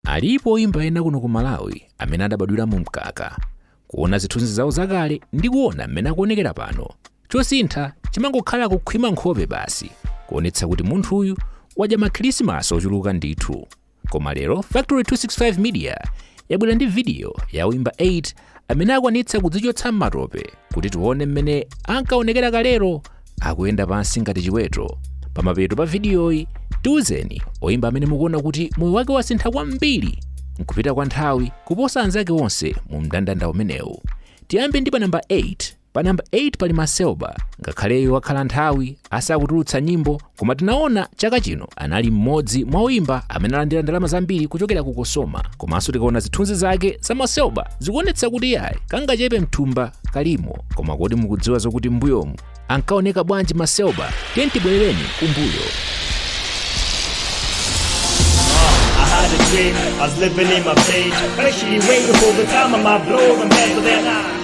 Alipo oyimba ena kuno ku Malawi amene adabadwira mu mkaka. Kuona zithunzi zawo zakale ndi kuona mmene akuonekera pano, chosintha chimangokhala kukhwima nkhope basi, kuonetsa kuti munthuyu wadya makhirisimasi ochuluka ndithu. Koma lero Factory 265 Media yabwera ndi vidiyo ya oyimba 8 amene akwanitsa kudzichotsa m'matope kuti tione mmene ankaonekera kalero akuyenda pansi ngati chiweto pamapeto pa vidiyoyi tiuzeni oyimba amene mukuona kuti moyo wake wasintha kwambiri nkupita kwa nthawi kuposa anzake onse mu mndandanda umenewu tiyambe ndi pa namba 8 Pa number 8 pali Macelba, ngakhale iyeyo wakhala nthawi asakutulutsa nyimbo, koma tinaona chaka chino anali mmodzi mwa oyimba amene alandira ndalama zambiri kuchokera ku Cosoma. Komanso tikaona zithunzi zake za Macelba zikuonetsa kuti yayi kangachepe mthumba kalimo. Koma kodi mukudziwa zokuti mbuyomu ankaoneka bwanji Macelba? Tiyeni tibwerereni kumbuyo. I had a dream, I was living in my page. But actually, waiting for the time I might blow the man, but then I.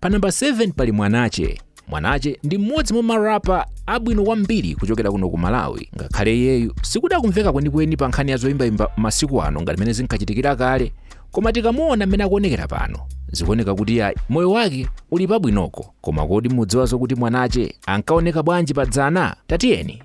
Pa namba 7 pali Mwanache. Mwanache ndi mmodzi mwa marapa abwino kwambiri kuchokera kuno ku Malawi. Ngakhale iyeyu sikuti akumveka kwenikweni pa nkhani ya zoyimbayimba masiku ano ngati mmene zinkachitikira kale, koma tikamuona mmene akuonekera pano zikuoneka kuti yayi moyo wake uli pabwinoko. Koma kodi mudziwa zokuti Mwanache ankaoneka bwanji pa dzana? Tatiyeni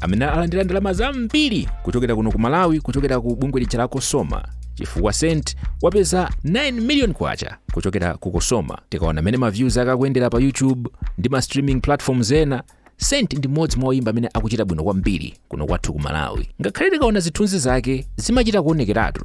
amene alandira ndalama zambiri kuchokera kuno ku malawi kuchokera ku bungwe lija la cosoma chifukwa saint wapeza 9 million kwacha kuchokera ku cosoma tikaona mmene ma views ake akuyendera pa youtube ndi ma streaming platforms ena saint ndi mmodzi mwa oyimba amene akuchita bwino kwambiri kuno kwathu ku malawi ngakhale tikaona zithunzi zake zimachita kuonekeratu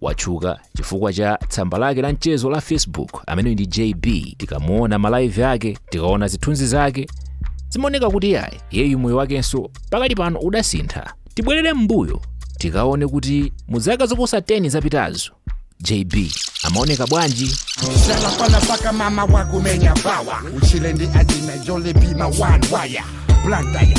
Watchuka chifukwa cha tsamba lake la mchezo la Facebook ameneyu ndi JB. Tikamuona malaivi ake, tikaona zithunzi zake, zimaoneka kuti yayi iyeyu moyo wakenso pakali pano udasintha. Tibwerere m'mbuyo tikaone kuti mu zaka zoposa 10 zapitazo JB amaoneka bwanji? Salafala paka mama wakumenya bawa uchile ndi ajina jole bima one wire blandaya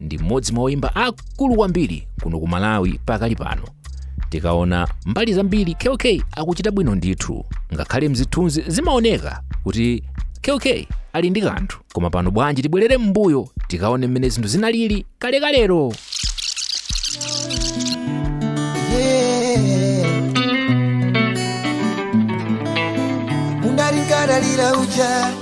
ndi mmodzi mwa oyimba akulu kwambiri kuno ku malawi pakali pano tikaona mbali zambiri kk akuchita bwino ndithu ngakhale mzithunzi zimaoneka kuti kk ali ndi kanthu koma pano bwanji tibwerere m'mbuyo tikaone mmene zinthu zinalili kalekalero ungalingaralira uja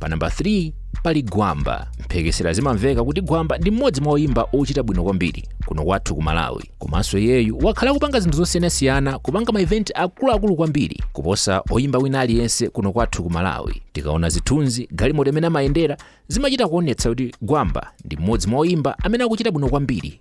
pa namba 3 pali gwamba mphekesera zimamveka kuti gwamba ndi mmodzi mwa oyimba ochita bwino kwambiri kuno kwathu ku malawi komanso iyeyu wakhala akupanga zinthu zosiyanasiyana kupanga ma event akuluakulu kwambiri kuposa oyimba wina aliyense kuno kwathu ku malawi tikaona zithunzi galimoto imene amayendera zimachita kuonetsa kuti gwamba ndi mmodzi mwa oyimba amene akuchita bwino kwambiri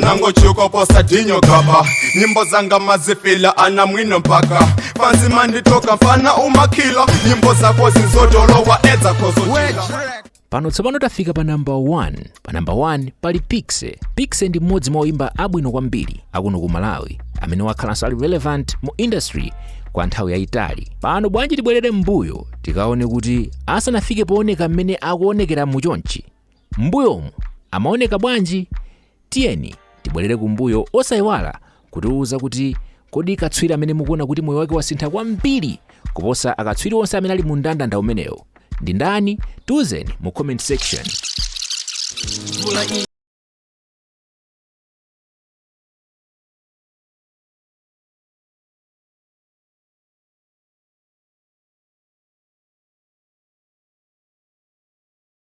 nango chiko posa dinyo gaba nyimbo zanga mumazifila ana mwino mpaka panzi manditoka mfana umakila nyimbo zako zizotolowa edza kozochila pano tsopano tafika pa namba 1 pa namba 1 pali Piksy Piksy ndi mmodzi mwa oyimba abwino kwambiri akuno ku malawi amene wakhalanso ali relevant mu industry kwa nthawi yayitali pano bwanji tibwerere m'mbuyo tikaone kuti asanafike pooneka mmene akuonekeramu chonchi M'mbuyomu amaoneka bwanji? Tiyeni tibwerere kumbuyo osaiwala kutiuza kuti kodi katswiri amene mukuona kuti moyo wake wasintha kwambiri kuposa akatswiri onse amene ali mu mndandanda umenewo ndi ndani? Tiuzeni mu comment section.